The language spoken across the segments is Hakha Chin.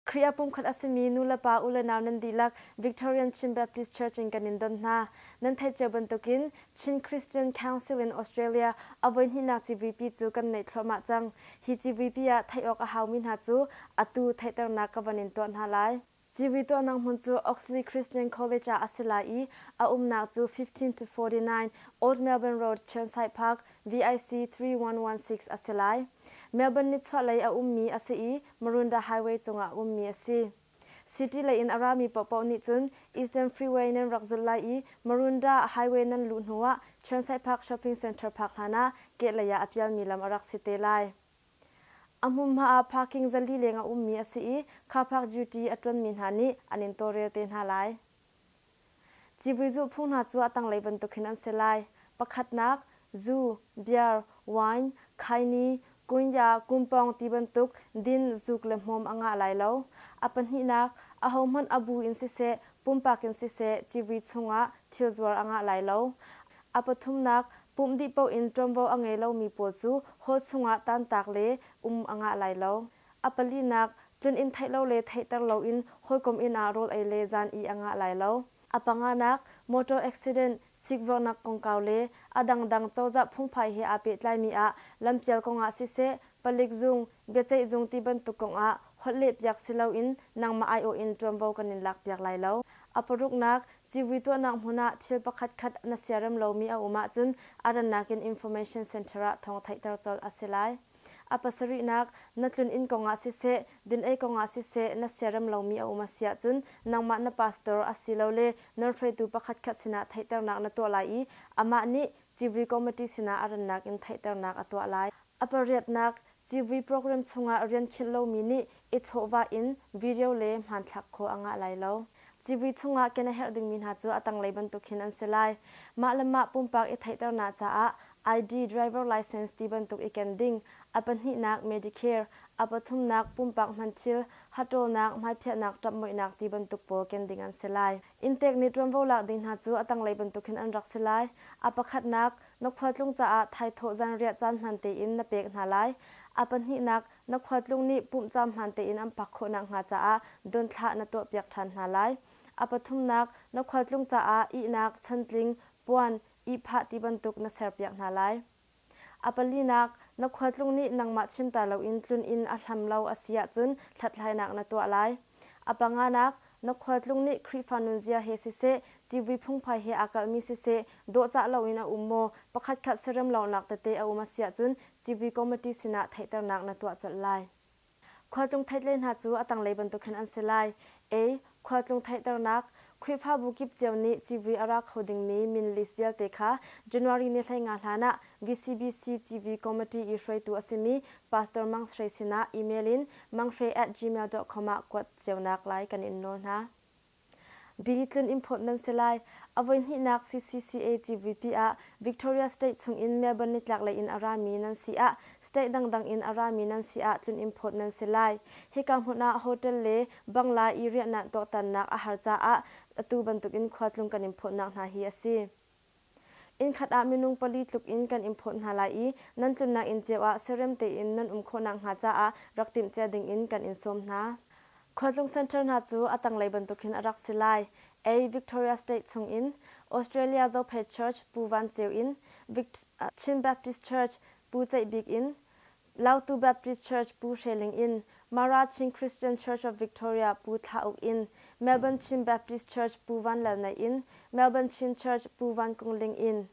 Khrih ah pumkhat a simi nulepa ulenau nan dihlak Victorian Chin Baptist Church in kan in don hna. Nan theih cio bantukin Chin Christian Council in Australia a voihnihnak civuipi cu kan neih thluahmah cang. Hi civuipi ah theih awk a haumi hna cu atu theihternak ka van in tuah hna lai. Civui tuahnak hmun cu Oxley Christian College ah a si lai i a umnak cu fifteen to forty nine Old Melbourne Road, Chirnside Park, VIC three one one six a si lai. Melbourne nichuahlei a ummi a si i Marunda Highway cungah ummi a si. City lei in a rami paohpaoh nih cun Eastern Freeway nan rak zulh lai i Marunda Highway nan luh hnu ah Chansai Park Shopping Centre park hlan ah kehlei ah a pialmi lam a rak si te lai. A hmunhma ah parking za li leng a ummi a si i car park duty a ṭuanmi hna nih an in tawlrel te hna lai. Civui zulhphung hna cu a tanglei bantukin an si lai, pakhatnak, zu, beer, wine, khaini, kunya, kumpawng ti bantuk din, zuk le hmawm a ngah lai lo. A pahnihnak, ahohmanh a bu in siseh, pumpak in siseh civui chungah thilzuar a ngah lai lo. A pathumnak, pumh dih paoh in ṭuanvo a ngei lomi pawl cu haw chungah tantak le um a ngah lai lo. A palinak, tlun inn theih lo le theihter loin hawikom inn ah rawl ei le zan i a ngah lai lo. A panganak, motor accident, sikvornak kongkau le a dangdang cozah phungphai he aa pehtlaimi ah lampial kongah siseh, palik zung, biaceih zung ti bantuk kongah holhlehpiak si loin nangmah aiawh in ṭuanvo kan in lakpiak lai lo. A paruknak, civui tuahnak hmun ah thil pakhatkhat na siarem lomi a um ahcun a rannak in information center ah thawng theihter colh a si lai. A pasarihnak, na tlun inn kongah siseh, dinei kongah siseh na siarem lomi a um a si ahcun nangmah na pastor asilole nawlhruaitu pakhatkhat sinah theihternak na tuah lai i amah nih civui committee sinah a rannak in theihternak a tuah lai. A pariatnak, civui program chungah rian khinh lomi nih i chawhvah in video le hmanthlak khua a ngah lai lo. Civui chungah ken a herh dingmi hna cu a tanglei bantuk hin an si lai. Mah le mah pumpak i theihternak caah ID, driver license ti bantuk i ken ding, a pahnihnak Medicare, a pathumnak pumpak hmanthil, haṭawlnak, hmaipiahnak ṭapmuihnak ti bantuk pawl ken ding an si lai. Inntek nih ṭuanvo lak ding hna cu a tanglei bantuk hin an rak si lai. A pakhatnak, na khualtlung caah thaithawh zanriah caan hman tein na pek hna lai. A pahnihnak, na khuatlung nih pumhcaam hmaan tein an phak khawh nakhnga caah donthlah na tuahpiak ṭhan hna lai. A pathumnak, na khualtlung caah ihnak, chantling, puan, ihphah ti bantuk na serpiak hna lai. A palinak, na khualtlung nih nangmah chimter loin tlun in a hlam lo a si ahcun hlathlainak na tuah lai. A panganak, na khualtlung nih Khrihfa nunzia he siseh, civui phungphai he aa kalhmi siseh, dawhcah loin a um maw, pakhatkhat serem lawngnak tete a um a si ahcun civui committee sinah theihternak na tuah colh lai. Khualtlung theihtle hna cu a tanglei bantuk hin an si lai, a. Khualtlung theihternak, Khrihfabu kip cio nih civui a ra kho dingmi min list vialte kha January ni hleinga hlan ah VCBC civui committee i hruaitu a simi Pastor Mang Shwe sinah email in mangshwe at gmail dot com ah kuat cionak lai kan in nawl hna. Bili tlun import nan si lai. A voihnihnak CCCA CVP ah Victoria State chungin Melbourne nitlaklei in a rami nan si ah state dangdang in a rami nan si ah tlun import nan si lai. Hika hmun ah hotel le bangla i riahnak tuaktannak a har caah atu bantukin khua tlung kan in phawtnak hna hi a si. Innkhat ah minung pali tluk in kan in phawt hna lai i nan tlunnak inn cio ah siarem tein nan um khawhnak hnga caah rak timhcia ding in kan in sawm hna. Khualtlung Center hna cu a tanglei bantuk hin a rak si lai. A. Victoria State chung in Australia Zophei Church, Pu Van Ceu in Vict Chin Baptist Church, Pu Ceih Bik in Lautu Baptist Church Pu Hre Ling in Mara Chin Christian Church of Victoria Pu Thla Uk in Melbourne Chin Baptist Church Pu Van Lal Naih in Melbourne Chin Church Pu Van Kung Ling in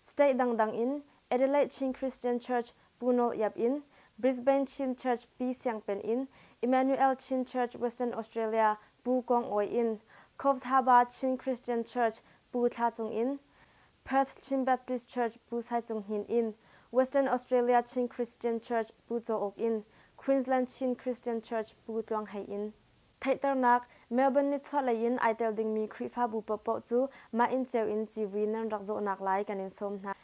State dangdang in Adelaide Chin Christian Church Pu Nawl Iap in Brisbane Chin Church Pi Siang Pen in Emmanuel Chin Church Western Australia Pu Kong Awi in Cove Thaba Chin Christian Church Pu Thla Cung in Perth Chin Baptist Church Pu Sai Cung Hnin in Western Australia Chin Christian Church Pu Caw Uk in Queensland Chin Christian Church Pu Tluang Hei in. Theihternak, Melbourne nichuahlei in ai tel dingmi Khrihfabu paohpaoh cu mah inn ceu in civui nan rak zawhnak lai kan in sawm hna.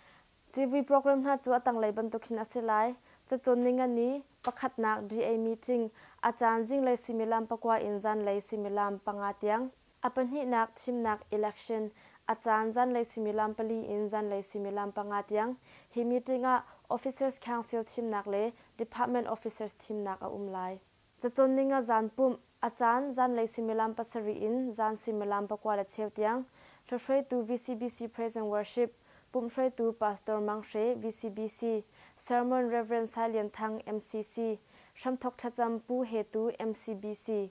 Civui program hna cu a tanglei bantuk hin a si lai, cacawn ni nga ni, pakhatnak DA meeting, a caan zinglei suimilam pakua in zanlei suimilam panga tiang. A pahnihnak thimnak election, a caan zanlei suimilam pali in zanlei suimilam panga tiang, hi meeting ah Officers Council thimnak le Department Officers thimnak a um lai. Cacawnning a zan pumh, a caan zanlei suimilam pasarih in zan suimilam pakua le cheu tiang, hlohruaitu VCBC Praise and Worship, pumhhruaitu Pastor Mang Hre, VCBC, Sermon Rev. Sai Lian Thang, MCC, hramthawk thlacam Pu He Tu, MCBC,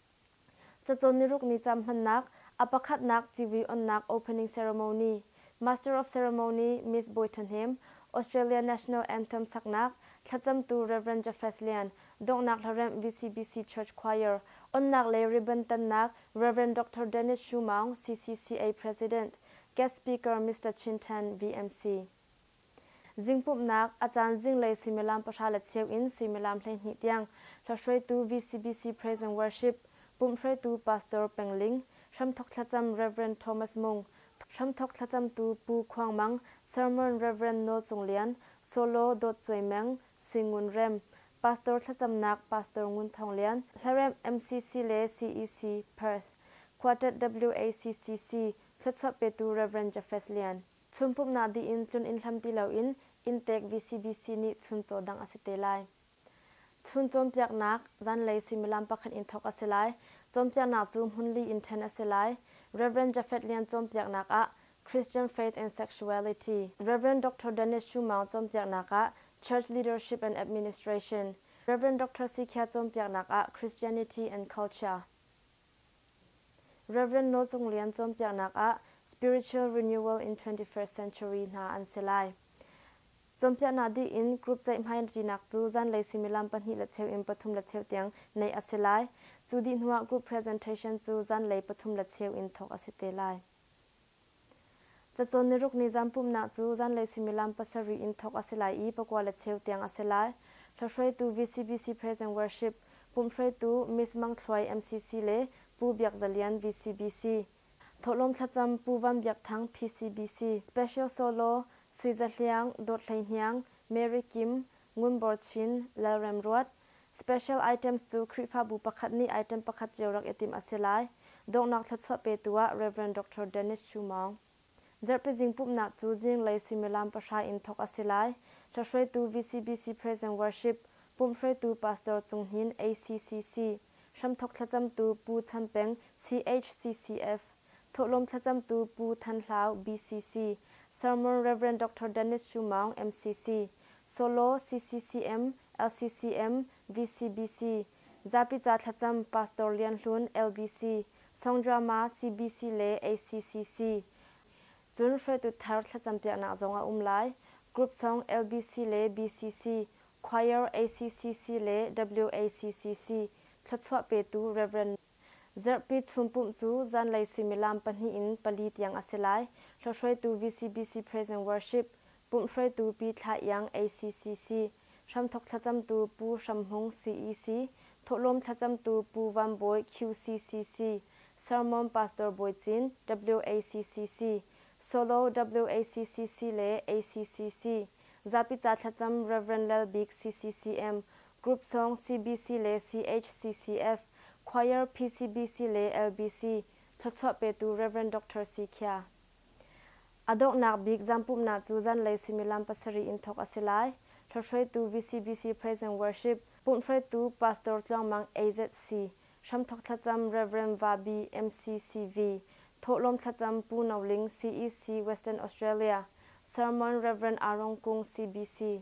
Cacawn niruk ni cam hmannak, a pakhatnak civi-onnak opening ceremony, Master of Ceremony Miss Bawi Ṭhahnem, Australia National Anthem saknak, thlacamtu Rev. Japheth Lian, donghnak hlaremh VCBC Church Choir, onnak le ribbon tannak Rev. Doctor Dennis Shu Maung, CCCA President, guest speaker Mister Chin Ṭhan, VMC. Zingpumhnak, a caan zinglei suimilam pahra le cheu in suimilam hleihnih tiang hlahruaitu VCBC Praise and Worship, pumh hruaitu Pastor Peng Ling, hramthawk thlacam Rev. Thomas Mung, hramthawk thlacamtu Pu Khuang Mang, Sermon Rev. Nawl Cung Lian, solo Dawt Cuai Meng, Sui Ngun Rem, Pastor thlacamnak Pastor Ngun Thawng Lian, hlaremh MCC le CEC, Perth, Quartet WACCC, thluachuah petu Rev. Jafeth Lian. Chun pumhnak dih in tlun inn hlam ti loin inntek VCBC nih chun caw dangh a si te lai. Chun cawnpiaknak, zanlei suimilam pakhat in thawk a si lai. Cawnpiaknak cu hmun li in ṭhen a si lai. Rev. Jafet Lian cawnpiaknak ah Christian Faith and Sexuality, Rev. Doctor Dennis Shu Maung cawnpiaknak ah Church Leadership and Administration, Rev. Doctor Si Khia cawnpiaknak ah Christianity and Culture, Rev. Nawlcung Lian cawnpiaknak ah Spiritual Renewal in 21st Century hna an si lai. Cawnpiaknak dih in group ceihhmaiṭinak cu zanlei suimilam pahnih le cheu in pathum le cheu tiang neih a si lai. Cu dih hnuah group presentation cu zanlei pathum le cheu in thawk a si te lai. Cacawn niruk ni zaanpumnak cu zanlei suimilam pasarih in thawk a si lai i pakua le cheu tiang a si lai. Hlahruaitu VCBC Praise and Worship, pumhhruaitu Miss Mang Thluai MCC le Pu Biak Za Lian VCBC, thawhlawm thlacam Pu Van Biak Thang PCBC, Special Solo Sui Za Hliang, Dawt Hlei Hniang, Mary Kim, Ngun Bor Chin, Lal Rem Ruat, Special items cu Khrihfabu pakhat nih item pakhat cio rak i timh a si lai. Donghnak thluachuah petu ah Rev. Doctor Dennis Shu Maung. Zarhpizing pumhnak cu zinglei suimilam pahra in thawk a si lai. Hlahruaitu VCBC Present Worship, pumhhruaitu Pastor Cung Hnin, ACCC, hramthawk thlacamtu Pu Chan Peng, CHCCF, Thawhlawm thlacamtu Pu Than Hlau, BCC, Sermon Rev. Doctor Dennis Shu Maung, MCC, Solo, CCCM, LCCM, VCBC, Zapi ca thlacam Pastor Lian Hlun, LBC, Songdrama, CBC le ACCC, cun hruaitu thar thlacampiaknak zong a um lai. Group song LBC le BCC, Choir, ACCC le WACCC thluachuah petu Rev. Zarhpi chunpumh cu zanlei suimilam pahnih in pali tiang a si lai. Hlawhhruaitu VCBC Praise and Worship, pumhhruaitu Pi Thla Iang ACCC, hramthawk thlacamtu Pu Hram Hmung CEC, thawhlawm thlacamtu Pu Van Bawi QCCC, sermon Pastor Bawi Cin, WACCC, solo WACCC le ACCC, zapi ca thlacam Rev. Lal Bik CCCM, Group sawng CBC le CHCCF, Choir PCBC le LBC, thluachuah petu Rev. Doctor Si Khia. A donghnak bik zampumnak cu zanlei suimilam pasarih in thawk a si lai. Hlawhhruaitu VCBC Praise and Worship, pumhhruaitu Pastor Tluang Mang AZC, hramthawk thlacam Rev. Vahbi MCCV, thawhlawm thlacam Pu No Ling CEC Western Australia, sermon Rev. Arong Kung CBC.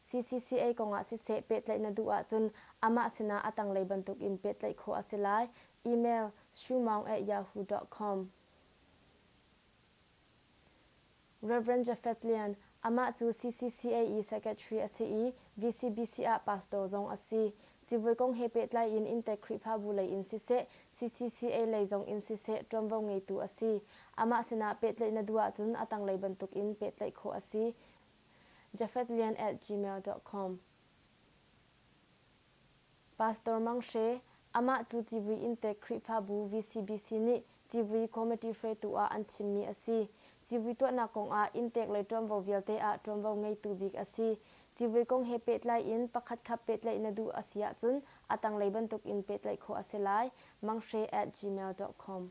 CCCA kongah siseh pehtlaih na duh ahcun amah sinah a tanglei bantuk in pehtlaih khawh a si lai, email shumaung@yahoo.com Rev. Jafeth Lian, Amah cu CCCA-i Secretary a si i VCBC ah pastor zong a si. Civui kong he pehtlai in inntek Khrihfabu lei in siseh, CCCA lei zong in siseh ṭuanvo ngeitu a si. Amah sinah pehtlaih na duh ahcun a tanglei bantuk in pehtlaih khawh a si. jafetlian at gmail dot com Pastor Mang Hre, Amah cu civui inntek Khrihfabu VCBC nih civui committee hruaitu ah an thimmi a si. Civui tuahnak kong ah inntek le ṭuanvo vialte ah ṭuanvo ngeitu bik a si. Civui kong he pehtlai in pakhatkhat pehtlaih na duh a si ahcun a tanglei bantuk in pehtlaih khawh a si lai. Manghre at gmail dot com.